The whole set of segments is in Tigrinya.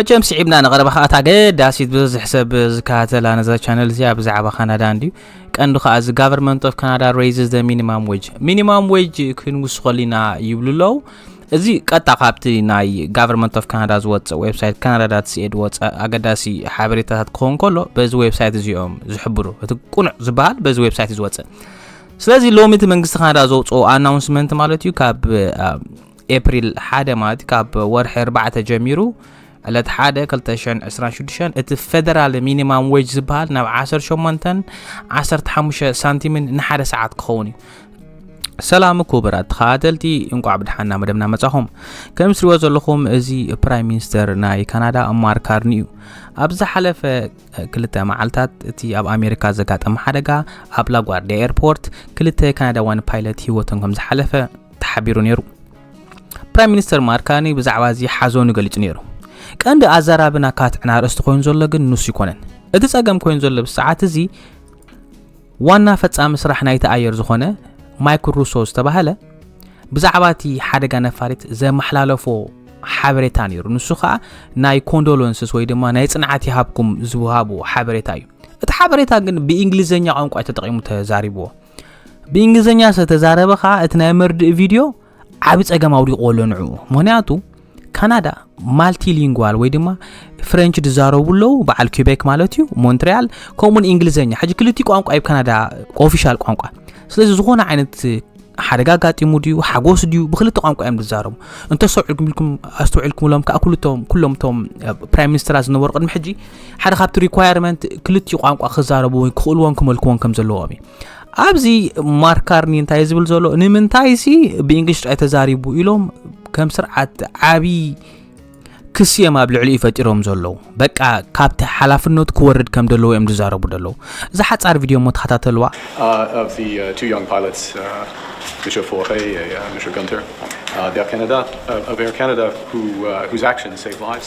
መቸም ስዒብና ንቐረባ ከኣ እታ ገዳሲት ብዝሕ ሰብ ዝከታተላ ነዛ ቻነል እዚኣ ብዛዕባ ካናዳ እንድዩ ቀንዲ ከኣ እዚ ጋቨርንመንት ኦፍ ካናዳ ሬይዝስ ዘ ሚኒማም ዌጅ ሚኒማም ዌጅ ክንውስኸሉ ኢና ይብሉ ኣለዉ እዚ ቀጥታ ካብቲ ናይ ጋቨርንመንት ኦፍ ካናዳ ዝወፅእ ዌብሳይት ካናዳ ዳት ሲኤ ዝወፀ ኣገዳሲ ሓበሬታታት ክኸውን ከሎ በዚ ዌብሳይት እዚኦም ዝሕብሩ እቲ ቁኑዕ ዝበሃል በዚ ዌብሳይት ዝወፅእ ስለዚ ሎሚ እቲ መንግስቲ ካናዳ ዘውፅኦ ኣናውንስመንት ማለት እዩ ካብ ኤፕሪል ሓደ ማለት ካብ ወርሒ ኣርባዕተ ጀሚሩ ዕለት ሓደ 226 እቲ ፌደራል ሚኒማም ዌጅ ዝበሃል ናብ 18 15 ሳንቲምን ንሓደ ሰዓት ክኸውን እዩ ሰላም ክቡራት ተኸታተልቲ እንቋዕ ብድሓና መደብና መጻኹም ከም ስሪዎ ዘለኹም እዚ ፕራይም ሚኒስተር ናይ ካናዳ ማር ካርኒ እዩ ኣብ ዝሓለፈ ክልተ መዓልታት እቲ ኣብ ኣሜሪካ ዘጋጠመ ሓደጋ ኣብ ላጓርዲያ ኤርፖርት ክልተ ካናዳዋን ፓይለት ሂወቶም ከም ዝሓለፈ ተሓቢሩ ነይሩ። ፕራይም ሚኒስተር ማርክ ካርኒ ብዛዕባ እዚ ሓዘኑ ገሊጹ ነይሩ። ቀንዲ ኣዘራቢ ናብ ካትዕን ኣርእስቲ ኮይኑ ዘሎ ግን ንሱ ይኮነን። እቲ ጸገም ኮይኑ ዘሎ ብሰዓት እዚ ዋና ፈጻሚ ስራሕ ናይቲ ኣየር ዝኾነ ማይክል ሩሶ ዝተባህለ ብዛዕባ እቲ ሓደጋ ነፋሪት ዘመሓላለፎ ሓበሬታ ነይሩ። ንሱ ከዓ ናይ ኮንዶለንስስ ወይ ድማ ናይ ጽንዓት ይሃብኩም ዝሃቡ ሓበሬታ እዩ። እቲ ሓበሬታ ግን ብእንግሊዝኛ ቋንቋ ተጠቂሙ ተዛሪብዎ። ብእንግሊዝኛ ዝተዛረበ ከዓ እቲ ናይ መርድእ ቪድዮ ዓብ ፀገም ኣውዲቑዎ ኣሎ ንዕኡ ምክንያቱ ካናዳ ማልቲሊንጓል ወይ ድማ ፍረንች ዝዛረቡ ኣለዉ በዓል ኪቤክ ማለት እዩ ሞንትሪያል ከምኡውን እንግሊዝኛ ሕጂ ክልቲ ቋንቋ ዩ ካናዳ ኦፊሻል ቋንቋ ስለዚ ዝኾነ ዓይነት ሓደጋ ኣጋጢሙ ድዩ ሓጎስ ድዩ ብክልተ ቋንቋ እዮም ዝዛረቡ እንተሰውዕልኩም ኢልኩም ኣስተውዕልኩምሎም ከዓ ኩልቶም ኩሎም እቶም ፕራይም ሚኒስትራት ዝነበሩ ቅድሚ ሕጂ ሓደ ካብቲ ሪኳየርመንት ክልቲኡ ቋንቋ ክዛረቡ ወይ ክኽእልዎን ክመልክዎን ከም ዘለዎም እዩ ኣብዚ ማርካርኒ እንታይ ዝብል ዘሎ ንምንታይ ሲ ብእንግሊሽ ጥራይ ተዛሪቡ ኢሎም ከም ስርዓት ዓብዪ ክስዮም ኣብ ልዕሊ እዩ ፈጢሮም ዘለዉ በቃ ካብቲ ሓላፍነቱ ክወርድ ከም ዘለዎ እዮም ዝዛረቡ ዘለዉ እዛ ሓፃር ቪድዮ እሞ ተኸታተልዋ Mr. Forte, uh, Mr. Gunter, uh, d'Air Canada, uh, of Air Canada, who uh, whose actions save lives.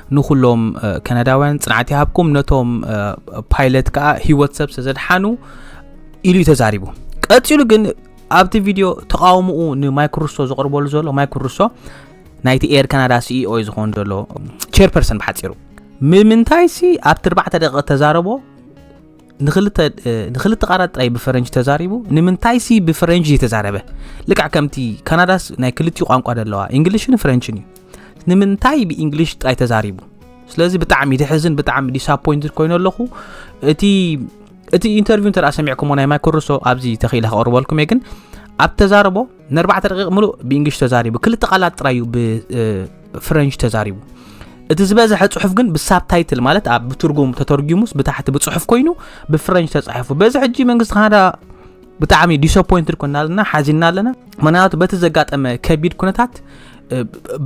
ንኹሎም ከናዳውያን ፅንዓት ይሃብኩም ነቶም ፓይለት ከዓ ህይወት ሰብ ስለዘድሓኑ ኢሉ እዩ ተዛሪቡ ቀፂሉ ግን ኣብቲ ቪድዮ ተቃውምኡ ንማይክሩሶ ዘቕርበሉ ዘሎ ማይክሩሶ ናይቲ ኤር ካናዳ ሲኢኦ እዩ ዝኾኑ ዘሎ ቸርፐርሰን ብሓፂሩ ምምንታይ ሲ ኣብቲ 4 ደቂ ተዛረቦ ንክልተ ቃላት ጥራይ ብፈረንጅ ተዛሪቡ ንምንታይሲ ብፈረንጅ ዘይተዛረበ ልክዕ ከምቲ ካናዳስ ናይ ክልቲኡ ቋንቋ ዘለዋ እንግሊሽን ፍረንችን እዩ ንምንታይ ብእንግሊሽ ጥራይ ተዛሪቡ ስለዚ ብጣዕሚ ድሕዝን ብጣዕሚ ዲስፖይንት ኮይኑ ኣለኹ እቲ እቲ ኢንተርቪው እንተ ሰሚዕኩሞ ናይ ማይኮርሶ ኣብዚ ተኽኢለ ከቕርበልኩም እየ ግን ኣብ ተዛረቦ ንኣርባዕተ ደቂቕ ምሉእ ብእንግሊሽ ተዛሪቡ ክልተ ቃላት ጥራይ እዩ ብፍረንሽ ተዛሪቡ እቲ ዝበዝሐ ፅሑፍ ግን ብሳብታይትል ማለት ኣብ ብትርጉም ተተርጊሙስ ብታሕቲ ብፅሑፍ ኮይኑ ብፍረንሽ ተፃሒፉ በዚ ሕጂ መንግስቲ ካናዳ ብጣዕሚ ዲስፖይንትድ ኮና ኣለና ሓዚና ኣለና ምክንያቱ በቲ ዘጋጠመ ከቢድ ኩነታት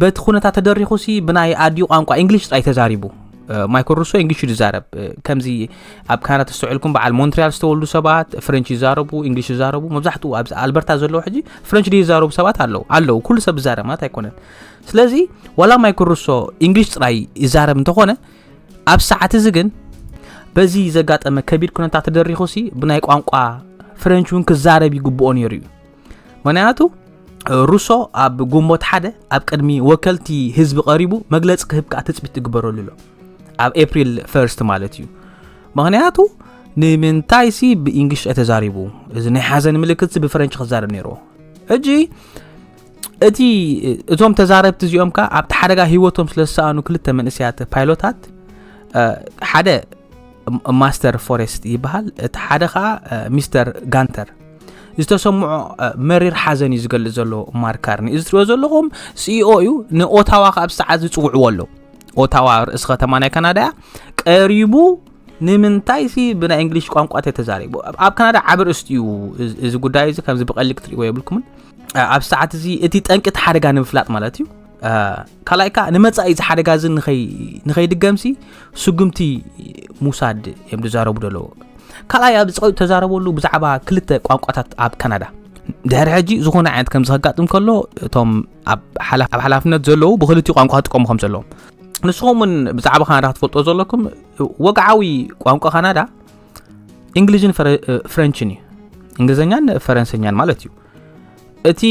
በቲ ኩነታት ተደሪኹ ሲ ብናይ ኣዲኡ ቋንቋ እንግሊሽ ጥራይ ተዛሪቡ ማይኮ ሩሶ እንግሊሽ እዩ ዝዛረብ ከምዚ ኣብ ካናዳ ተስተውዒልኩም በዓል ሞንትሪያል ዝተወልዱ ሰባት ፍረንች ይዛረቡ እንግሊሽ ይዛረቡ መብዛሕትኡ ኣብ ኣልበርታ ዘለዉ ሕጂ ፍረንች ድዩ ይዛረቡ ሰባት ኣለዉ ኣለዉ ኩሉ ሰብ ይዛረብ ማለት ኣይኮነን ስለዚ ዋላ ማይክሩሶ እንግሊሽ ጥራይ ይዛረብ እንተኾነ ኣብ ሰዓት እዚ ግን በዚ ዘጋጠመ ከቢድ ኩነታት ተደሪኹ ሲ ብናይ ቋንቋ ፍረንች እውን ክዛረብ ይግብኦ ነይሩ እዩ ምክንያቱ ሩሶ ኣብ ግንቦት ሓደ ኣብ ቅድሚ ወከልቲ ህዝቢ ቀሪቡ መግለፂ ክህብ ከዓ ትፅቢት ትግበረሉ ኣሎ ኣብ ኤፕሪል ፈርስት ማለት እዩ ምክንያቱ ንምንታይ ሲ ብእንግሊሽ ተዛሪቡ እዚ ናይ ሓዘን ምልክት ብፈረንች ክዛረብ ነይርዎ ሕጂ እቲ እቶም ተዛረብቲ እዚኦም ከዓ ኣብቲ ሓደጋ ሂወቶም ስለዝሰኣኑ ክልተ መንእስያት ፓይሎታት ሓደ ማስተር ፎሬስት ይበሃል እቲ ሓደ ከዓ ሚስተር ጋንተር ዝተሰምዖ መሪር ሓዘን እዩ ዝገልፅ ዘሎ ማርካርኒ እዚ ትሪኦ ዘለኹም ሲኦ እዩ ንኦታዋ ከዓ ብሰዓት ዝፅውዕዎ ኣሎ ኦታዋ ርእሲ ከተማ ናይ ካናዳ እያ ቀሪቡ ንምንታይ ሲ ብናይ እንግሊሽ ቋንቋ ተተዛሪቡ ኣብ ካናዳ ዓብ ርእስቲ እዩ እዚ ጉዳይ እዚ ከምዚ ብቀሊ ክትሪእዎ የብልኩምን ኣብ ሰዓት እዚ እቲ ጠንቂ እቲ ሓደጋ ንምፍላጥ ማለት እዩ ካልኣይ ከዓ ንመፃኢ እዚ ሓደጋ እዚ ንኸይድገምሲ ስጉምቲ ምውሳድ እዮም ዝዛረቡ ዘለዎ ካልኣይ ኣብ ፀቂጡ ተዛረበሉ ብዛዕባ ክልተ ቋንቋታት ኣብ ካናዳ ድሕሪ ሕጂ ዝኾነ ዓይነት ከምዚ ከጋጥም ከሎ እቶም ኣብ ሓላፍነት ዘለዉ ብክልቲ ቋንቋ ክጥቀሙ ከም ዘለዎም ንስኹም እውን ብዛዕባ ካናዳ ክትፈልጦ ዘለኩም ወግዓዊ ቋንቋ ካናዳ እንግሊዝን ፍረንችን እዩ እንግሊዝኛን ፈረንሰኛን ማለት እዩ እቲ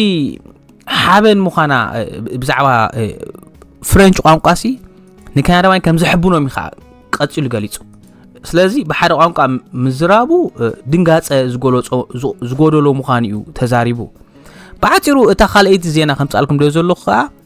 ሓበን ምዃና ብዛዕባ ፍረንች ቋንቋ ሲ ንካናዳውያን ከም ዘሕብኖም ኢኻ ቀፂሉ ገሊፁ ስለዚ ብሓደ ቋንቋ ምዝራቡ ድንጋፀ ዝገለፆ ዝጎደሎ ምዃኑ እዩ ተዛሪቡ ብዓፂሩ እታ ካልኣይቲ ዜና ከምፃልኩም ዶ ዘለኹ ከዓ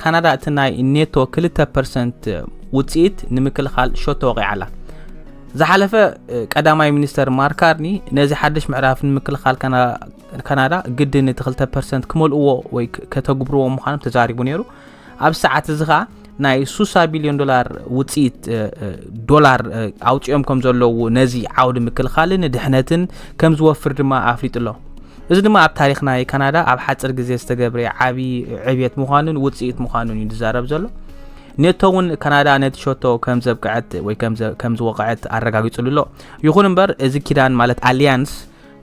ካናዳ እቲ ናይ ኔቶ ክልተ ፐርሰንት ውፅኢት ንምክልኻል ሸቶ ወቒዓ ኣላ ዝሓለፈ ቀዳማይ ሚኒስተር ማርካርኒ ነዚ ሓድሽ ምዕራፍ ንምክልኻል ካናዳ ግድን እቲ 2 ፐርሰንት ክመልእዎ ወይ ከተግብርዎ ምዃኖም ተዛሪቡ ነይሩ ኣብ ሰዓት እዚ ከዓ ናይ 6 ቢልዮን ዶላር ውፅኢት ዶላር ኣውፅኦም ከም ዘለዉ ነዚ ዓውዲ ምክልኻልን ድሕነትን ከም ዝወፍር ድማ ኣፍሊጡ ኣሎ እዚ ድማ ኣብ ታሪኽ ናይ ካናዳ ኣብ ሓጽር ግዜ ዝተገብረ ዓቢ ዕብየት ምዃኑን ውጽኢት ምዃኑን እዩ ዝዛረብ ዘሎ ኔቶ እውን ካናዳ ነቲ ሸቶ ከም ዘብቅዐት ወይ ከም ዝወቕዐት ኣረጋጊጹሉ ኣሎ ይኹን እምበር እዚ ኪዳን ማለት ኣሊያንስ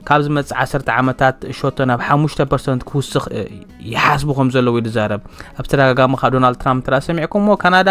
ካብ ዝመጽእ ዓሰርተ ዓመታት ሸቶ ናብ ሓሙሽተ ፐርሰንት ክውስኽ ይሓስቡ ከም ዘለዉ እዩ ዝዛረብ ኣብ ተደጋጋሚ ካብ ዶናልድ ትራምፕ ትራ ሰሚዕኩምዎ ካናዳ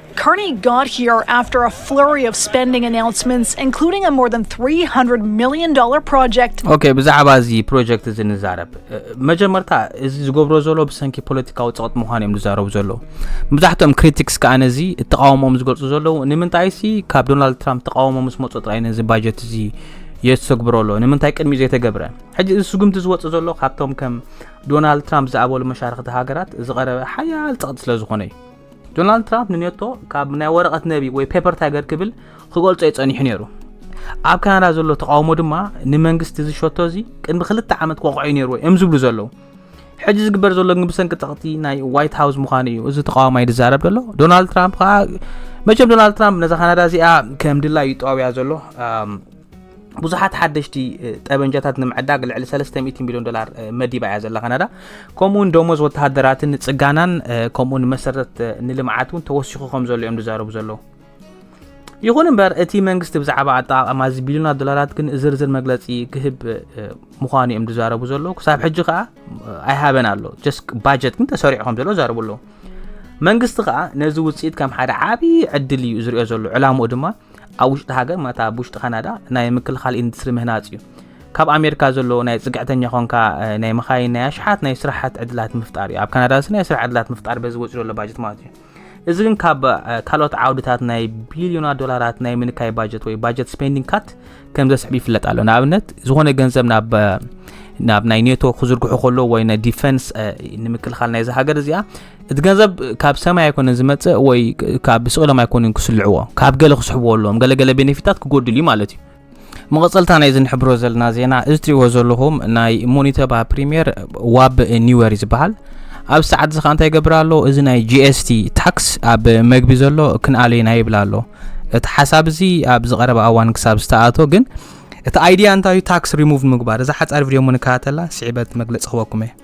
Carney got here after a flurry of spending announcements, including a more than $300 million project. ኦኬ ብዛዕባ እዚ ፕሮጀክት እዚ ንዛረብ እ፣ መጀመርታ እዚ ዝገብሮ ዘሎ ብሰንኪ ፖለቲካዊ ፀቕጥ ምዃኑ እዮም ዝዛረቡ ዘለዉ መብዛሕትኦም ክሪቲክስ ከዓ ነዚ እተቃወሞም ዝገልፁ ዘለዉ ንምንታይ ሲ ካብ ዶናልድ ትራምፕ ተቃውሞ ምስ መፁ ጥራይ ነዚ ባጀት እዚ የተግብሮ ኣሎ ንምንታይ ቅድሚ ዘይተገብረ ሕጂ እዚ ስጉምቲ ዝወፅ ዘሎ ካብቶም ከም ዶናልድ ትራምፕ ዝኣበሉ መሻርክቲ ሃገራት ዝቐረበ ሓያል ፀቕጢ ስለ ዝኾነ እዩ ዶናልድ ትራምፕ ንኔቶ ካብ ናይ ወረቐት ነቢ ወይ ፔፐር ታይገር ክብል ክገልጾ እዩ ጸኒሑ ነይሩ ኣብ ካናዳ ዘሎ ተቃውሞ ድማ ንመንግስቲ እዚ ሸቶ እዚ ቅድሚ ክልተ ዓመት ክወቕዑ ነይሩ እዮም ዝብሉ ዘለዉ ሕጂ ዝግበር ዘሎ ግን ብሰንኪ ጸቕቲ ናይ ዋይት ሃውስ ምዃኑ እዩ እዚ ተቃዋማይ ዝዛረብ ዘሎ ዶናልድ ትራምፕ ከዓ መቸም ዶናልድ ትራምፕ ነዛ ካናዳ እዚኣ ከም ድላ እዩ ጠዋብያ ዘሎ ብዙሓት ሓደሽቲ ጠበንጃታት ንምዕዳግ ልዕሊ 300 ሚሊዮን ዶላር መዲባ እያ ዘላ ካናዳ ከምኡውን ደሞዝ ወተሃደራትን ንፅጋናን ከምኡ ንመሰረት ንልምዓት እውን ተወሲኹ ከም ዘሎ እዮም ዝዛረቡ ዘለዉ ይኹን እምበር እቲ መንግስቲ ብዛዕባ ኣጠቃቀማ እዚ ቢልዮናት ዶላራት ግን ዝርዝር መግለፂ ክህብ ምዃኑ እዮም ዝዛረቡ ዘለዉ ክሳብ ሕጂ ከዓ ኣይሃበን ኣሎ ጀስ ባጀት ግን ተሰሪዑ ከም ዘሎ ዛረቡ ኣለዉ መንግስቲ ከዓ ነዚ ውፅኢት ከም ሓደ ዓብዪ ዕድል እዩ ዝሪኦ ዘሎ ዕላምኡ ድማ ኣብ ውሽጢ ሃገር ማለት ኣብ ውሽጢ ካናዳ ናይ ምክልኻል ኢንዱስትሪ ምህናፅ እዩ ካብ ኣሜሪካ ዘሎ ናይ ፅግዕተኛ ኮንካ ናይ መኻይን ናይ ኣሽሓት ናይ ስራሓት ዕድላት ምፍጣር እዩ ኣብ ካናዳ ስ ናይ ስራሕ ዕድላት ምፍጣር በዚ ወፂ ዘሎ ባጀት ማለት እዩ እዚ ግን ካብ ካልኦት ዓውድታት ናይ ቢልዮና ዶላራት ናይ ምንካይ ባጀት ወይ ባጀት ስፔንዲንግ ካት ከም ዘስዕብ ይፍለጥ ኣሎ ንኣብነት ዝኾነ ገንዘብ ናብ ናብ ናይ ኔቶ ክዝርግሑ ከሎ ወይ ናይ ዲፈንስ ንምክልኻል ናይዚ ሃገር እዚኣ እቲ ገንዘብ ካብ ሰማይ ኣይኮነን ዝመፅእ ወይ ካብ ብስቕሎም ኣይኮኑን ክስልዕዎ ካብ ገለ ክስሕብዎ ኣለዎም ገለገለ ቤኔፊታት ክጎድል እዩ ማለት እዩ መቐፀልታ ናይ እዚ ንሕብሮ ዘለና ዜና እዚ ትሪእዎ ዘለኹም ናይ ሞኒተባ ፕሪምየር ዋብ ኒወር እዩ ዝበሃል ኣብዚ ሰዓት እዚ ከዓ እንታይ ይገብር ኣሎ እዚ ናይ ጂኤስቲ ታክስ ኣብ መግቢ ዘሎ ክንኣለ ኢና ይብል ኣሎ እቲ ሓሳብ እዚ ኣብዚ ቀረባ እዋን ክሳብ ዝተኣቶ ግን እቲ ኣይድያ እንታይ ታክስ ሪሙቭ ምግባር እዛ ሓፃር ቪድዮ ሞ ንከታተላ ስዒበት መግለፂ ክበኩም እየ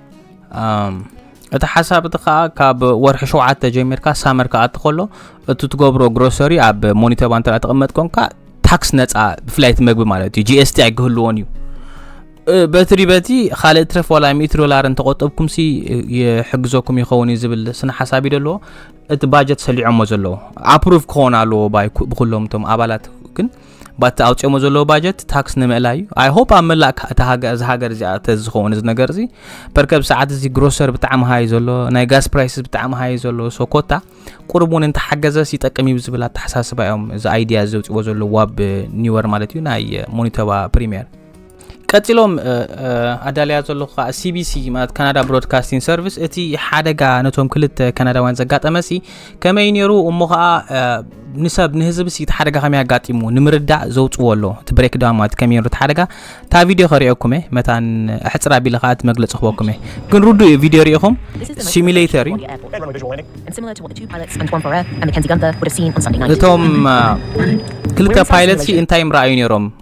እቲ ሓሳብ እቲ ከዓ ካብ ወርሒ ሸውዓተ ጀሚርካ ሳመር ከዓ እትኸሎ እቲ ትገብሮ ግሮሰሪ ኣብ ሞኒተባ እንተ ተቐመጥ ኮንካ ታክስ ነፃ ብፍላይ እቲ መግቢ ማለት እዩ ጂኤስቲ ኣይክህልዎን እዩ በትሪ በቲ ካልእ ትረፍ ዋላ ሚእቲ ዶላር እንተቆጠብኩም ሲ ይሕግዘኩም ይኸውን እዩ ዝብል ስነ ሓሳብ እዩ ዘለዎ እቲ ባጀት ሰሊዖሞ ዘለዎ ኣፕሩቭ ክኸውን ኣለዎ ባይ ብኩሎም እቶም ኣባላት ግን ባቲ ኣውጽኦሞ ዘለዎ ባጀት ታክስ ንምእላይ እዩ ኣይ ሆፕ ኣብ መላእ እታ ሃገር እዚ ሃገር እዚኣ ተዝኸውን እዚ ነገር እዚ ፐርከብ ሰዓት እዚ ግሮሰር ብጣዕሚ ሃይ ዘሎ ናይ ጋስ ፕራይስ ብጣዕሚ ሃይ ዘሎ ሶ ኮታ ቁርብ እውን እንተሓገዘስ ይጠቅም እዩ ዝብል ኣተሓሳስባ እዮም እዚ ኣይዲያ እዚ ዘውፅዎ ዘሎ ዋብ ኒወር ማለት እዩ ናይ ሞኒቶባ ፕሪምየር ቀፂሎም ኣዳልያ ዘለኹ ከዓ ሲቢሲ ማለት ካናዳ ብሮድካስቲንግ ሰርቪስ እቲ ሓደጋ ነቶም ክልተ ካናዳውያን ዘጋጠመሲ ከመይ ነይሩ እሞ ከዓ ንሰብ ንህዝቢ ሲ እቲ ሓደጋ ከመይ ኣጋጢሙ ንምርዳእ ዘውፅዎ ኣሎ እቲ ብሬክ ዳውን ማለት ከመይ ነይሩ እቲ ሓደጋ እታ ቪድዮ ከሪኦኩም እየ መታን ኣሕፅር ኣቢለ ከዓ እቲ መግለፂ ክበኩም እየ ግን ርዱ እዩ ቪድዮ ሪኢኹም ሲሚሌተር እዩ እቶም ክልተ ፓይለት ሲ እንታይ ምረኣዩ ነይሮም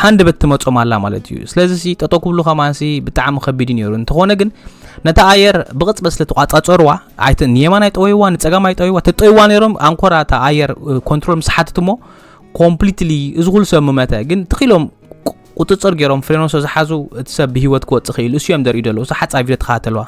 ሃንደበት ትመፆም ኣላ ማለት እዩ ስለዚ ሲ ጠጠው ክብሉ ከማንሲ ብጣዕሚ ከቢድ እዩ ነይሩ እንተኾነ ግን ነታ ኣየር ብቕፅበት ስለ ተቋፃፀርዋ ኣይተ ንየማን ኣይጠወይዋ ንፀጋም ኣይጠወይዋ ተጠይዋ ነይሮም ኣንኮራ እታ ኣየር ኮንትሮል ምስ ሓትት እሞ ኮምፕሊትሊ እዚ ኩሉ ሰብ ምመተ ግን ትኺሎም ቁፅፅር ገይሮም ፍሬኖ ስለ ዝሓዙ እቲ ሰብ ብሂወት ክወፅእ ክኢሉ እሱ እዮም ዘርእዩ ዘለዉ እሱ ሓፃ ቪድዮ ተኸታተልዋ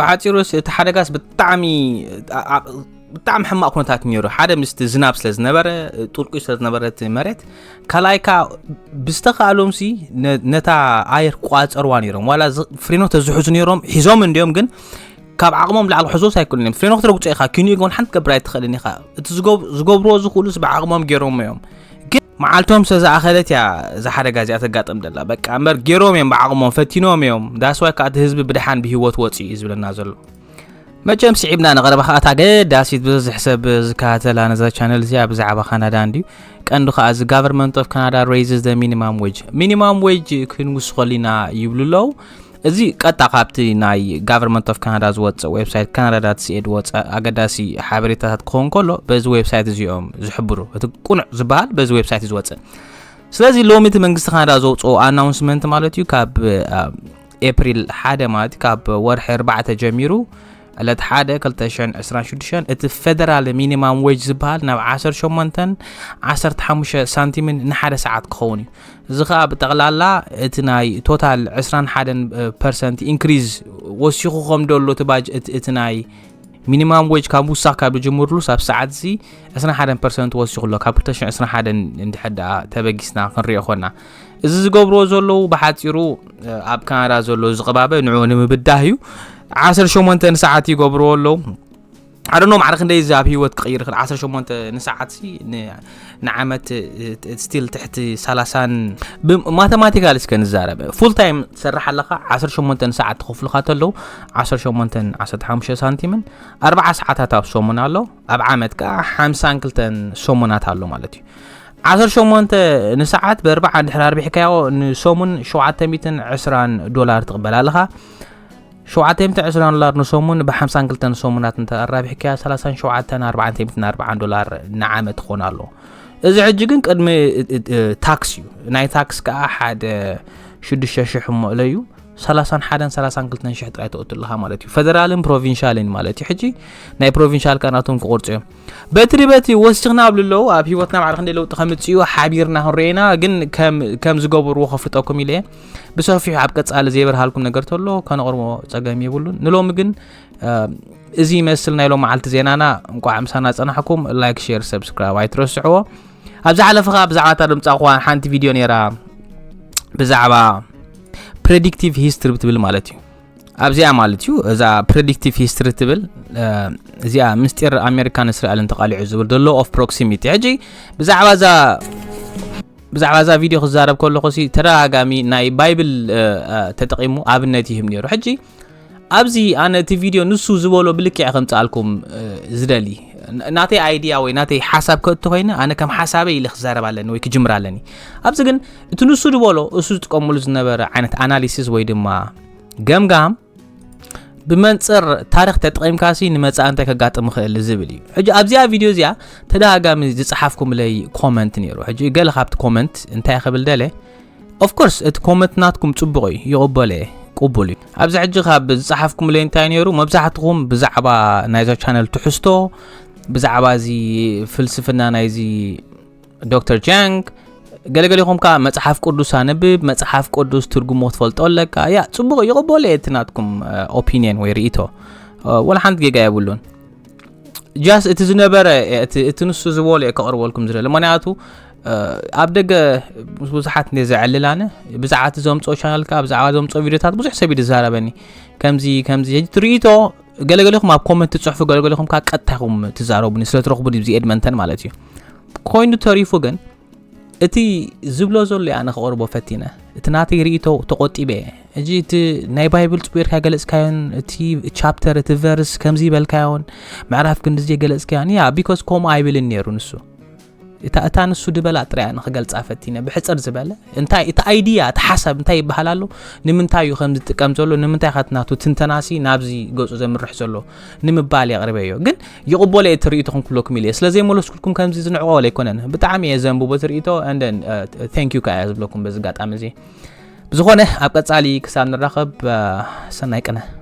ብሓጺሩስ እቲ ሓደጋስ ብጣዕሚ ብጣዕሚ ሕማቕ ኩነታት ነይሩ ሓደ ምስቲ ዝናብ ስለ ዝነበረ ጥልቁይ ስለ ዝነበረ እቲ መሬት ካልኣይ ከዓ ብዝተኻእሎም ሲ ነታ ኣየር ቋፀርዋ ነይሮም ዋላ ፍሬኖ ተዝሕዙ ነይሮም ሒዞም እንዲዮም ግን ካብ ዓቕሞም ላዕሊ ክሕዝዎስ ኣይክእሉን እዮም ፍሬኖ ክትረግጾ ኢኻ ኪኑ ግን ሓንቲ ትገብር ኣይትኽእልን ኢኻ እቲ ዝገብርዎ ዝኽእሉስ ብዓቕሞም ገይሮም እዮም ግን መዓልቶም ስለ ዝኣኸለት እያ እዛ ሓደጋ እዚኣ ተጋጥም ደላ በቃ እምበር ገይሮም እዮም ብዓቕሞም ፈቲኖም እዮም ዳስዋይ ከዓ እቲ ህዝቢ ብድሓን ብሂወት ወፂኡ እዩ ዝብለና ዘሎ መቸም ስዒብና ንቐረባ ከዓ እታ ገዳሲት ብዝሕ ሰብ ዝከታተላ ነዛ ቻነል እዚኣ ብዛዕባ ካናዳ እንድዩ ቀንዱ ከዓ እዚ ጋቨርንመንት ኦፍ ካናዳ ሬይዝስ ዘ ሚኒማም ዌጅ ሚኒማም ዌጅ ክንውስኸሉ ኢና ይብሉ ኣለዉ እዚ ቀጥታ ካብቲ ናይ ጋቨርንመንት ኦፍ ካናዳ ዝወፅእ ዌብሳይት ካናዳ ዳት ሲኤ ዝወፀ ኣገዳሲ ሓበሬታታት ክኸውን ከሎ በዚ ዌብሳይት እዚኦም ዝሕብሩ እቲ ቁኑዕ ዝበሃል በዚ ዌብሳይት እዩ ዝወፅእ ስለዚ ሎሚ እቲ መንግስቲ ካናዳ ዘውፅኦ ኣናውንስመንት ማለት እዩ ካብ ኤፕሪል ሓደ ማለት ካብ ወርሒ ኣርባዕተ ጀሚሩ ዕለት ሓደ ክልተ ሸን ዕስራን ሽዱሽተን እቲ ፈደራል ሚኒማም ዌጅ ዝበሃል ናብ ዓሰርተ ሸሞንተን ዓሰርተ ሓሙሽተ ሳንቲምን ንሓደ ሰዓት ክኸውን እዩ እዚ ከዓ ብጠቕላላ እቲ ናይ ቶታል ዕስራን ሓደን ፐርሰንት ኢንክሪዝ ወሲኹ ከም ደሎ እቲ ባጅ እቲ ናይ ሚኒማም ዌጅ ካብ ውሳኽ ካብ ዝጅምርሉ ሳብ ሰዓት እዚ 21 ፐርሰንት ወሲኹ ኣሎ ካብ 221 እንድሕር ደኣ ተበጊስና ክንሪኦ ኮና እዚ ዝገብርዎ ዘለዉ ብሓጺሩ ኣብ ካናዳ ዘሎ ዝቕባበ ንዕኡ ንምብዳህ እዩ። ዓሰርተ ሸሞንተ ንሰዓት ይገብርዎ ኣለዉ። ኣደኖ ማዕረ ክንደይ እዚ ኣብ ህይወት ክቕይር ይኽእል 18 ንሰዓት ሲ ንዓመት ስቲል ትሕቲ 30 ማተማቲካል እስከ ንዛረብ ፉል ታይም ትሰርሕ ኣለኻ 18 ሰዓት ትኸፍሉካ ተለዉ 18 15 ሳንቲምን 4 ሰዓታት ኣብ ሰሙን ኣሎ ኣብ ዓመት ከዓ 52 ሰሙናት ኣሎ ማለት እዩ ዓሰርተ ሸሞንተ ንሰዓት በርባዓ እንድሕር ኣርቢሕካዮ ንሰሙን ሸውዓተ ሚእትን ዕስራን ዶላር ትቕበል ኣለኻ ሸውዓተ ሚእቲ ዕስራን ዶላር ንሰሙን ብሓምሳን ክልተን ሰሙናት እንተ ኣራቢሕካያ ሰላሳን ሸውዓተን ኣርባዓን ሚእትን ኣርባዓን ዶላር ንዓመት ትኾን ኣሎ እዚ ሕጂ ግን ቅድሚ ታክስ እዩ ናይ ታክስ ከዓ ሓደ ሽዱሽተ ሽሕ እሞእለ እዩ ሰላሳን ሓደን ሰላሳን ክልተን ሽሕ ጥራይ ተእቱ ኣለኻ ማለት እዩ ፈደራልን ፕሮቪንሻልን ማለት እዩ ሕጂ ናይ ፕሮቪንሻል ከናቶም ክቆርፁ እዮም በትሪ በቲ ወሲኽና ኣብ ልለው ኣብ ሂወትና ባዕሪ ክንደይ ለውጢ ከምፅኡ ሓቢርና ክንሪኦ ኢና ግን ከም ዝገበርዎ ከፍልጠኩም ኢለ ብሰፊሑ ኣብ ቀፃሊ ዘይበርሃልኩም ነገር ተሎ ከነቕርቦ ፀገም የብሉን ንሎሚ ግን እዚ ይመስል ናይ ሎም መዓልቲ ዜናና እንቋዕ ምሳና ፀናሕኩም ላይክ ሼር ሰብስክራይብ ኣይትረስዕዎ ኣብ ዝሓለፈ ከዓ ብዛዕባ እታ ድምፃ ኳ ሓንቲ ቪድዮ ነይራ ብዛዕባ ፕሬዲክቲቭ ሂስትሪ ብትብል ማለት እዩ ኣብዚኣ ማለት እዩ እዛ ፕሬዲክቲቭ ሂስትሪ ትብል እዚኣ ምስጢር ኣሜሪካን እስራኤልን ተቃሊዑ ዝብል ዘሎ ኦፍ ፕሮክሲሚቲ ሕጂ ብዛዕባ እዛ ብዛዕባ እዛ ቪድዮ ክዛረብ ከለኹ ሲ ተደጋጋሚ ናይ ባይብል ተጠቂሙ ኣብነት ይህብ ነይሩ ሕጂ ኣብዚ ኣነ እቲ ቪድዮ ንሱ ዝበሎ ብልክዕ ከምፅኣልኩም ዝደሊ ናተይ ኣይድያ ወይ ናተይ ሓሳብ ከእቲ ኮይነ ኣነ ከም ሓሳበይ ኢለ ክዛረብ ኣለኒ ወይ ክጅምር ኣለኒ ኣብዚ ግን እቲ ንሱ ዝበሎ እሱ ዝጥቀምሉ ዝነበረ ዓይነት ኣናሊሲስ ወይ ድማ ገምጋም ብመንፅር ታሪክ ተጠቒምካ ሲ ንመፃእ እንታይ ከጋጥም ይኽእል ዝብል እዩ ሕጂ ኣብዚኣ ቪድዮ እዚኣ ተደጋጋሚ ዝፀሓፍኩምለይ ኮመንት ነይሩ ሕጂ ገለ ካብቲ ኮመንት እንታይ ክብል ደለ ኦፍኮርስ እቲ ኮመንት ናትኩም ፅቡቕ እዩ ይቕበለ እየ ቅቡል እዩ ኣብዚ ሕጂ ካብ ዝፀሓፍኩምለይ እንታይ ነይሩ መብዛሕትኹም ብዛዕባ ናይዛ ቻነል ትሕዝቶ ብዛዕባ እዚ ፍልስፍና ናይዚ ዶክተር ጃንግ ገለገሌኹም ከዓ መፅሓፍ ቅዱስ ኣንብብ መፅሓፍ ቅዱስ ትርጉሞ ትፈልጦ ኣለካ ያ ፅቡቅ ይቕበሎ እቲ ናትኩም ኦፒኒየን ወይ ርእቶ ወላ ሓንቲ ጌጋ የብሉን ጃስ እቲ ዝነበረ እቲ ንሱ ዝበሎ እየ ከቕርበልኩም ዝደለ ምክንያቱ ኣብ ደገ ምስ ብዙሓት እንደ ዘዕልል ኣነ ብዛዕባ እቲ ዘምፅኦ ቻናል ከዓ ብዛዕባ ዘምፅኦ ቪድዮታት ብዙሕ ሰብ ይዛረበኒ ከምዚ ከምዚ ሕጂ ትርኢቶ ገለገሌኹም ኣብ ኮመንት ትፅሕፉ ገለገሌኹም ከዓ ቀጥታ ይኹም ትዛረቡኒ ስለ ትረኽቡኒ ብዚ ኤድመንተን ማለት እዩ ኮይኑ ተሪፉ ግን እቲ ዝብሎ ዘሎ እያ ንክቕርቦ ፈቲነ እቲ ናተይ ርእቶ ተቆጢበ እየ እጂ እቲ ናይ ባይብል ፅቡርካ ገለፅካዮን እቲ ቻፕተር እቲ ቨርስ ከምዚ በልካዮን ምዕራፍ ክንድዜ ገለፅካዮን ያ ቢኮስ ከምኡ ኣይብልን ነይሩ ንሱ እታ ንሱ ድበላ ጥራያ ንክገልፃ ፈቲነ ብሕፅር ዝበለ እንታይ እቲ ኣይድያ እቲ ሓሳብ እንታይ ይበሃል ኣሎ ንምንታይ እዩ ከም ዝጥቀም ዘሎ ንምንታይ ከትናቱ ትንተናሲ ናብዚ ገፁ ዘምርሕ ዘሎ ንምባል እየ ኣቕሪበዮ ግን ይቕበሎ እየ እቲ ርእይቶ ክንክብለኩም ኢለ ስለዘይመለስኩልኩም ከምዚ ዝንዕቆ ኣይኮነን ብጣዕሚ እየ ዘንብቦ እቲ ርእይቶ ቴንክ ዩ ከዓ እየ ዝብለኩም በዚ ኣጋጣሚ እዚ ብዝኾነ ኣብ ቀፃሊ ክሳብ ንራኸብ ሰናይ ቅነ